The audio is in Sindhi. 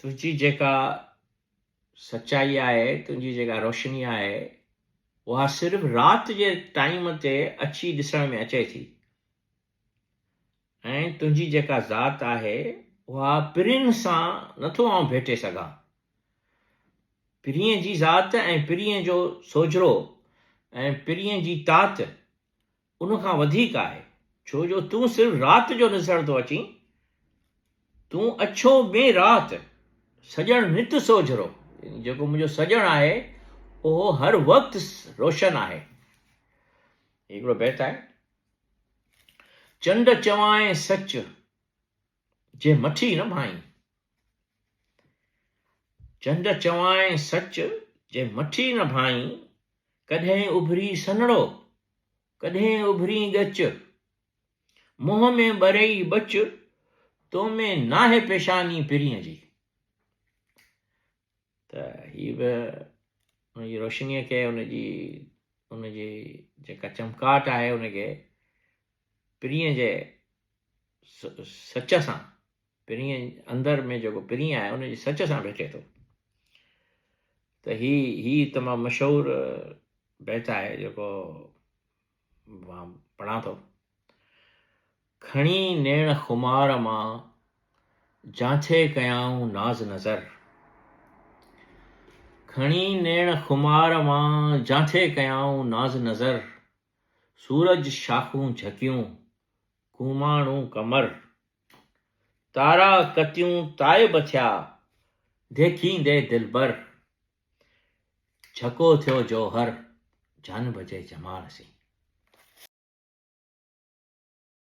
تنهنجي جيڪا سچائي آهي، تنهنجي جيڪا روشني آهي، اها صرف رات جي ٽائيم تي اچي ڏسڻ ۾ اچي ٿي ۽ تنهنجي جيڪا ذات آهي، اها پرين سان نٿو آئون ڀيٽي سگهان. پرين جي ذات ۽ پرين جو سوجهرو ۽ پرين جي تات ان کان وڌيڪ آهي، ڇو جو تون صرف رات جو نسڻ ٿو اچين، تون اڇو ٻين رات، سڄڻ نت سوجهرو، يعني جيڪو منهنجو سڄڻ آهي، اهو هر وقت روشن آهي. هي هڪڙو بيت آهي. چنڊ چوانء سچ، جي مٺي نه ڀائين. چنڊ چوانء سچ، جي مٺي نه ڀائين، ڪڏهن اڀري سنهڙو، ڪڏهن اڀرين ڳچ، منهن ۾ ٻرئي ٻچ، تو ۾ ناهي پيشاني پرينء جي. ته هي به ان جي روشنيء کي ان جي ان جي جيڪا چمڪاٽ آهي ان کي پرينء جي سچ سان پرينء اندر ۾ جيڪو پرينء آهي ان جي سچ سان ڀيٽي ٿو ته هي هي تمام مشهور بيت آهي جيڪو مان پڙهان ٿو کڻي نيڻ خمار مان جانٿي ڪيائون ناز نظر کڻي نيڻ خمار مان جانٿي ڪيائون ناز نظر سورج شاخون جھڪيون ڪوماڻو ڪمر تارا ڪتيون تائب ٿيا ديکيندي دلبر جهڪو ٿيو جوهر جانب جي جمال سين.